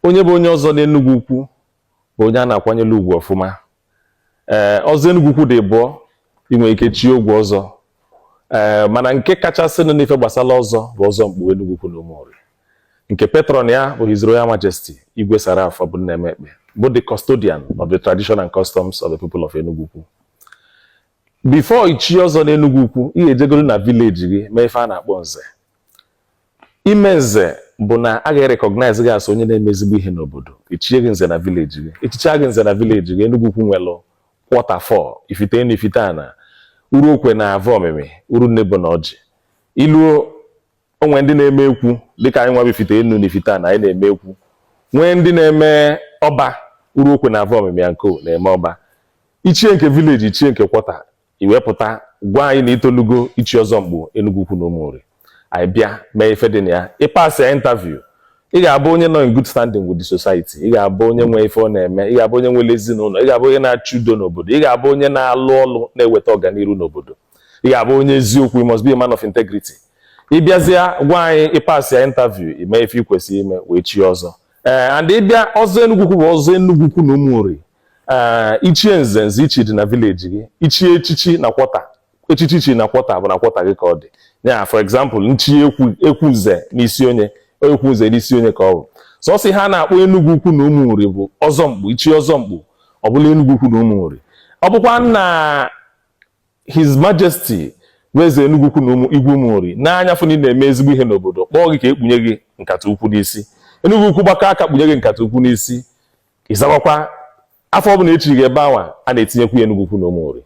onye bụ onye ọzọ n'Enugwu Ukwu bụ onye a na-akwanyere ugwu ọfụma ee ọzọ Enugwu Ukwu dị ịbụọ i nwe ike chie ogwe ọzọ ee mana nke kachasịnụ n'ife gbasara ọzọ bụ ọzọ mkpu Enugwu Ukwu na Ụmụnri nke patron ya bụ His Royal Majesty Igwe Sir Ralph Obumnemeh Ekpeh bụ the custodian of the tradition and customs of the people of Enugwu Ukwu before ichi ọzọ n'Enugwu Ukwu ị ga-ejegoro na village gị mee ife a na-akpọ nze ime nze bụ na a ga-recognize gị as onye na-eme ezigbo ihe n'obodo e chie gị nze na village gị e chicha gị nze na village gị Enugwu Ukwu nwelụ quarter four Ifite Enu Ifite Ana Uruokwe na Avomimi Urunnebo na Ọjị i luo o nwe ndị na-eme ekwu dịka anyị nwa bụ Ifite Enu na Ifite Ana anyị na-eme ekwu nwee ndị na-eme ọba Uruokwe na Avomimi ya nko na-eme ọba i chie nke village i chie nke quarter i wee pụta gwa anyị na i tolugo ichi ọzọ mkpu Enugwu Ukwu na Ụmụnri anyị bịa mee ife dị na ya ị passịa interview ị ga-abụ onye nọ in good standing with the society ị ga-abụ onye nwe ife ọ na-eme ị ga-abụ onye nwere ezinụlọ ị ga-abụ onye na-achụ udo n'obodo ị ga-abụ onye na-alụ ọlụ na-eweta ọganiru n'obodo ị ga-abụ onye eziokwu you must be a man of integrity ị bịazịa gwa anyị ị passịa interview i mee ife ị kwesịrị ime wee chi ọzọ ee eh, and ị bịa ọzọ Enugwu Ukwu bụ ọzọ Enugwu Ukwu na Ụmụnri ee i chie nze nze i chi dị na village gị i chie echichi na quarter echichi i chi na quarter bụ na quarter gị ka ọ dị yeah for example m chi ekwu ekwu nze n'Isionye ekwu nze n'Isionye ka ọ bụ sọsọ ihe a na-akpọ Enugwu Ukwu na Ụmụnri bụ ọzọ mkpu i chi ọzọ mkpu ọ bụla Enugwu Ukwu na Ụmụnri ọ bụkwa na His Majesty bụ Eze Enugwu Ukwu na ụmụ Igwe Ụmụnri nee anya fụ na ị na-eme ezigbo ihe n'obodo kpọọ gị ka e kpunye gị nkata ukwu n'isi Enugwu Ukwu gbakọ aka kpunye gị nkata ukwu n'isi ị zawakwa afa ọbụla e chi gị ebe anwa a na-etinyekwu ya Enugwu Ukwu na Ụmụnri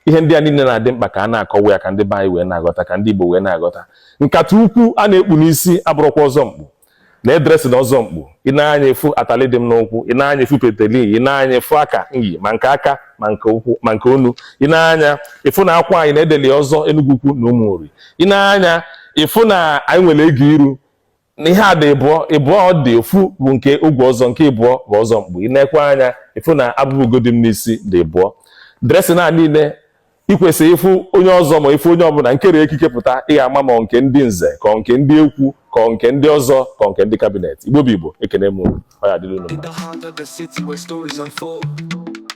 ihe ndị a niile na-adị mkpa ka a na-akọwa ya ka ndị be anyị wee na-aghọta ka ndị Igbo wee na-aghọta nkata ukwu a na-ekpu n'isi abụrọkwa ọzọ mkpu nee dressing ọzọ mkpu i nee anya ị fụ atali dị m n'ụkwụ i nee anya ị fụ peteli i nee anya ị fụ aka enyi ma nke aka ma nke ụkwụ ma nke onu i nee anya ị fụ na akwa anyị na e deli ọzọ Enugwu Ukwu na Ụmụnri i nee anya ị fụ na anyị nwere ego iru na ihe a dị ịbụọ ịbụọ ọ dị ofu bụ nke ogwe ọzọ nke ịbụọ bụ ọzọ mkpu i neekwa anya ị fụ na abụba ugo dị m n'isi dị ịbụọ dressing a niile i kwesị ịfụ onye ọzọ ma ị fụ onye ọbụla nkere ekike pụta ị ga-ama ma nke ndị nze ka nke ndị ekwu ka nke ndị ọzọ ka nke ndị cabinet Igbo bụ Igbo ekene m ọ ya dịrị unu